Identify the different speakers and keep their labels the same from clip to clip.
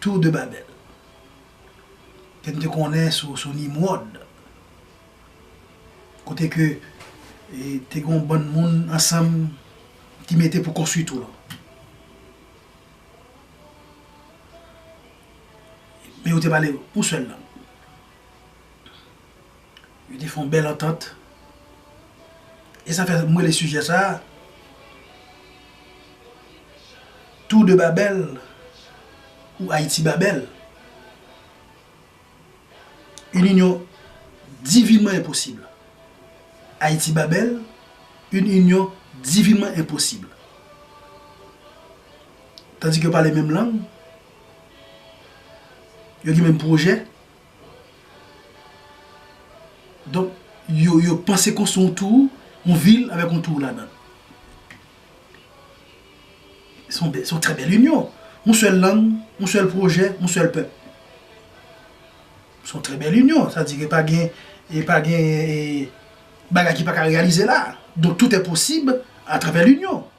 Speaker 1: Tour de Babel. Ke nou te konnen sou Nimrod. Kote ke te gen yon bann moun ansanm ki mete pou konstwi tour lan. Men yo te pale yon sèl lang. Yo te fè yon bèl antant. E sa fè m rele sijè sa a, Tour de Babel ou Ayiti Babel? Une union divinement impossible. Ayiti Babel, une union divinement impossible. Tandis ke yo pale menm lang, yo gen menm pwojè, Donk, yo, yo panse konstwi yon tour, yon vil avèk yon tour ladan. Se yon bèl, se yon trè bèl inyon. Yon sèl lang, yon sèl pwojè, yon sèl pèp. Se yon trè bèl inyon. Sa di ke pa gen, e pa gen e bagay ki pa ka reyalize la. Donk, tout è posib atravè linyon.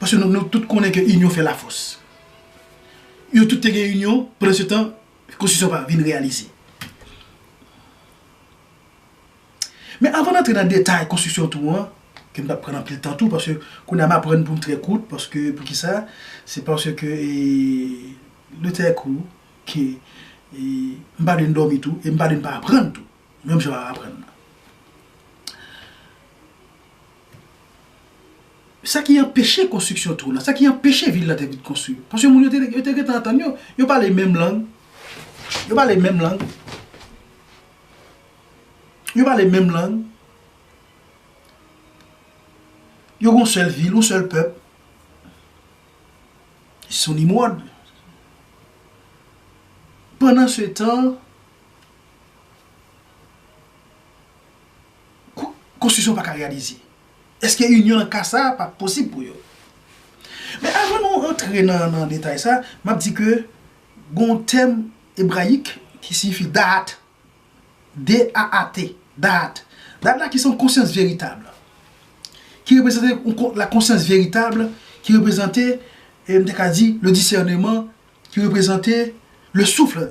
Speaker 1: Paske nou tout konnen ke inyon fè lafòs. Yo tout te gen inyon, pandan se tan, konstitisyon pa vin reyalize. Men avan antre nan detay konstitisyon tou an, ke m pa pran anpil tan tou, paske kounye a m aprann pou m trè kout, paske pou ki sa, se paske le tè kou, ke m pa vin dòmi tou, e m pa vin pa aprann tou, menm jan w ap aprann nan. Sa ki anpeche konstriksyon tour lan? Sa ki anpeche vil lan te vin konstri? Paske moun yo te yo te gentan antann yo. Yo pale menm lang. Yo pale menm lang. Yo pale menm lang. Yo gon sèl vil, yon sèl pèp. Se yon nimwòd. Pandan se tan, konstwisyon pa ka reyalize? Eske inyon nan ka sa a pa posib pou yo? Men avan nou rantre nan detay sa, m ap di ke gen yon tèm ebrayik ki siyifi Da'at, D-A-A-T, Da'at. Da'at la ki se yon konsyans veritab, ki reprezante la konsyans veritab, ki reprezante, m te ka di, le disèneman, ki reprezante le souffle,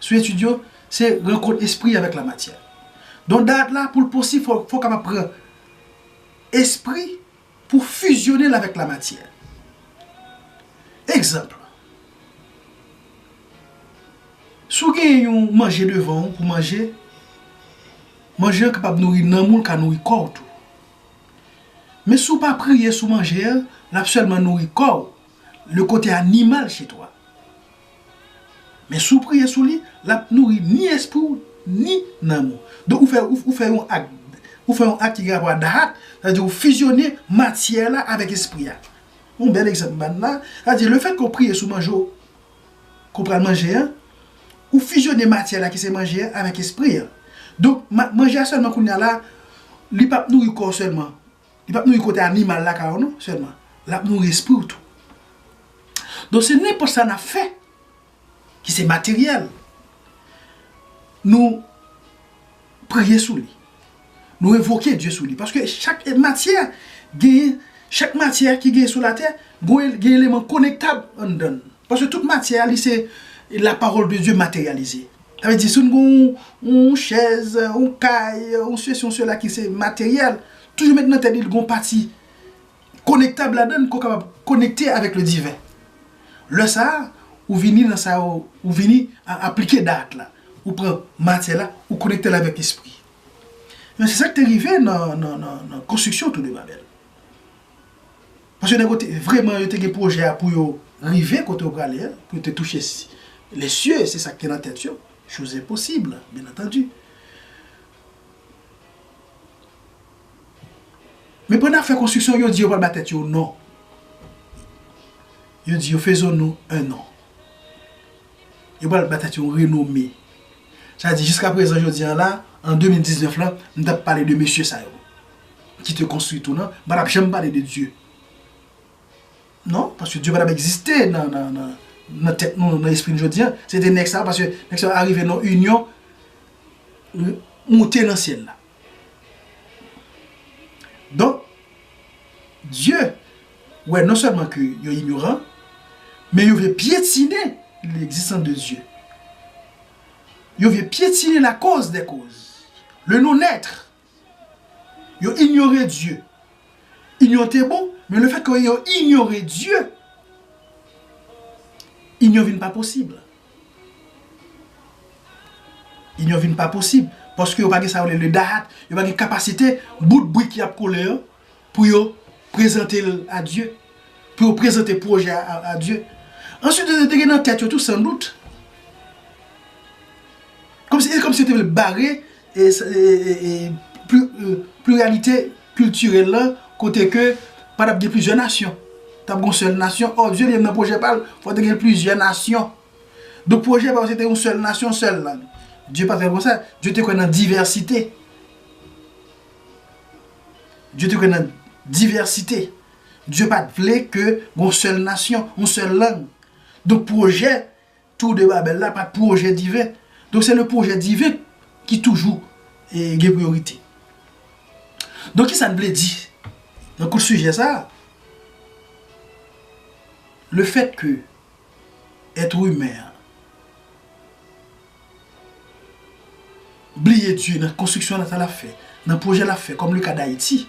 Speaker 1: sou etid yo, se rankont espri avèk lamatyè. Don d'art la, pou l posib, fò w kapab pran espri pou w fizyone l avèk lamatyè. Egzanp, si w genyen yon manje devan w pou manje, manje an kapab nouri nanm ou, l ka nouri kò w tou. Men si w pa priye sou manje an, l ap sèlman nouri kò w, le kote animal chez toi. Men si w priye sou li, l ap nouri ni espri w ni nanm ou. Donk ou fè ou fè yon ak ou fè yon ak ki gen rapò a Dahat, sa vle di ou fizyone matyè la avèk espri a. Yon bèl egzanp m bann la, sa vle di lefètke ou priye sou manje w ke w pral manje an, ou fizyone matyè la ki se manje a avèk espri a. Donk manje a sèlman kounye a la li p ap nouri kò w sèlman, Li pap nouri kote animal lakay ou non sèlman, lap nouri espri ou tou. Donk se nenpòt sa nap fè ki se materyèl, nou priye sou li, nou envoke Dye sou li, paske chak matyè genyen, chak matyè ki genyen sou latè, gen eleman konektab anndan l, paske tout matyè li se la pawòl de Dye materyalize. Sa vle di si nou gen yon chèz, yon kay, yon sesi yon sela ki se materyèl, toujou met nan tèt li gen yon pati konektab ladan l ke w kapab konekte avèk le diven. Lè sa a, ou vini nan sa yo, ou vini aplike Da'at la. Ou pran matyè la, ou konekte l avèk lespri. Men se sa k te rive nan konstriksyon Tou de Babèl. Paske nèg yo te vreman yo te gen pwojè a pou yo rive kote yo prale a, pou yo te touche les cieux, se sa ki te nan tèt yo, chose impossible, bien entendu. Men pandan y ap fè konstriksyon, yo di yo pral ba tèt yo non. Yo di yo faisons-nous un nom. Yo pral ba tèt yo yon renome. Sa vle di jiskaprezan jodi an la, an 2019 la, nou t ap pale de mesye sa yo. ki te konstwi tou nan, pa tap janm pale de Dye. Non, paske Dye pa tap egziste nan tèt nou, nan espri nou jodi an. Se te nèg sa, paske nèg sa arive nan yon inyon, moute nan syèl la. Don, Dye, wè non sèlman ke yo inyoran, men yo vle pyetine l'egzistans de Dye. Yo vle pyetine la koz de koz, le non etre. Yo inyore Dye. Inyon te bon, men le fèt ke yo inyore Dye, inyon vin pa posib. Inyon vin pa posib, paske yo pa gen sa yo rele le Dahat, yo pa gen kapasite bout brik y ap kole yo, pou yo prezante l a Dye, pou yo prezante pwojè a a Dye. Answit yo te gen nan tèt yo tou san dout, kòm si e kòm si yo te vle bare e e pliralite kiltirèl lan kote ke pa t ap gen plizyè nasyon. T ap gen yon sèl nasyon. Ò, Dye li menm nan pwojè pa l, fòk te gen plizyè nasyon. Donk pwojè pa yo se te yon sèl nasyon, yon sèl lang. Dye pa t fè l konsa. Dye te kwè nan divèsite. Dye te kwè nan divèsite. Dye pa t vle ke gon sèl nasyon, yon sèl lang. Donk pwojè Tour de Babel la pa t pwojè diven. Donk se le pwojè diven ki toujou gen priyorite. Donk kisa n vle di nan kout sijè sa a? Le fèt ke èt imen an. Bliye Dye nan konstriksyon Leta l ap fè, nan pwojè l ap fè kòm le ka Dayiti.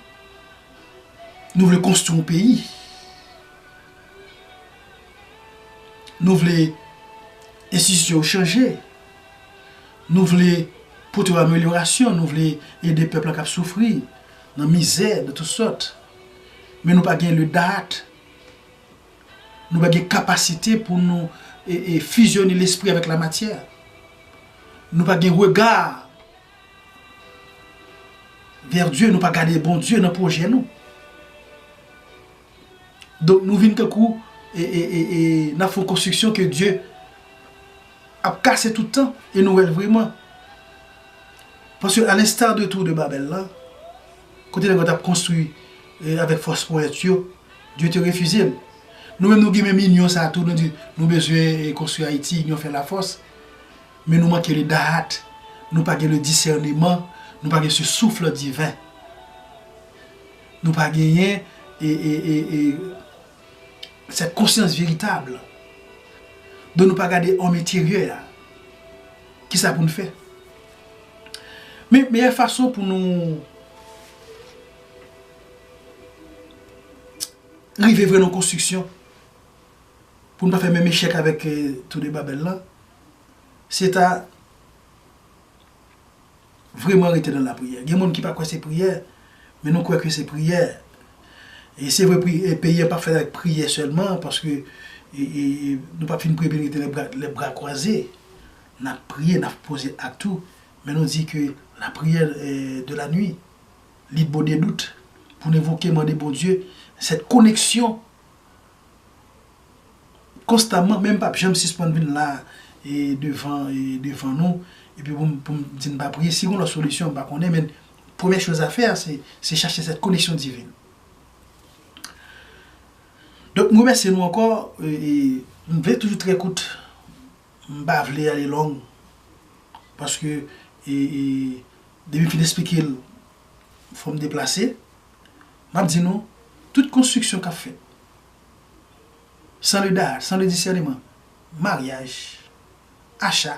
Speaker 1: Nou vle konstwi yon peyi. Nou vle enstitisyon yo chanje. Nou vle pote yo amelyorasyon. Nou vle ede pèp la k ap soufri nan mizè de tout sòt. Men nou pa gen le date. Nou pa gen kapasite pou nou fizyone lespri avèk lamatyè. Nou pa gen rega vè Dye, nou pa gade Bondye nan pwojè nou. Donk nou vin tankou nan fon konstriksyon ke Dye ap kase tout tan e nou wèl vreman. Paske a lenstar de tou de Babèl la, kote nèg yo tap konstri avèk fòs ponyèt yo, Dieu te refize l. Nou menm nou gen menm inyon sa tou nou di nou bezwen konstwi Ayiti inyon fè la fòs men nou manke le dahat nou pa gen le disèneman nou pa gen se souffle divin nou pa genyen e e e e sèt konsyans veritab don nou pa gade òm enteryè a kisa pou n fè men meyè fason pou nou rive vre nan konstriksyon, pou n pa fè menm echèk avèk Tour de Babel la, se ta vreman rete nan lapriyè. Gen moun ki pa kwè se priyè, men nou kwè ke se priyè. E se vre peyi an pa fèt avèk priyè sèlman, paske nou pa fin priye epi rete lè bra kwaze. N ap priye, n ap poze ak tou, men nou di ke lapriyè de la nwi. Li bo de dout pou n envoke mande Bondye sèt koneksyon konstanman men m pap janm sispann vin la e devan e devan nou epi pou m pou m di n pa priye si gon lòt solisyon m pa konnen men premyè choz a fè a se se chache sèt koneksyon divin donk m remèsye nou ankò e m vle toujou trè kout. M pa vle ale long paske depi m fin esplike l fò m deplase. M ap di nou tout konstriksyon k ap fèt san leda, san le disèneman, maryaj, acha,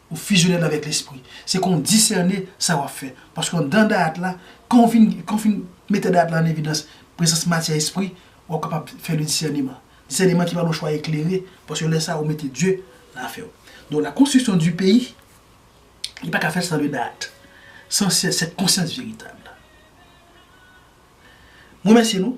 Speaker 1: Ou fusione l avèk lespri. Se kon w disène sa w ap fè. Paske anndan dayat la, kan w fin kan w fin mete dayat la ann evidans, prezans matyè espri, w ap kapab fè le disèneman. Disèneman ki pa lwen chwa eklere, paske lè sa a ou mete Dye nan afè w. Donk la konstriksyon di peyi, li pa ka fèt san le dayat. San sèt konsyans veritab la. M remèsye nou.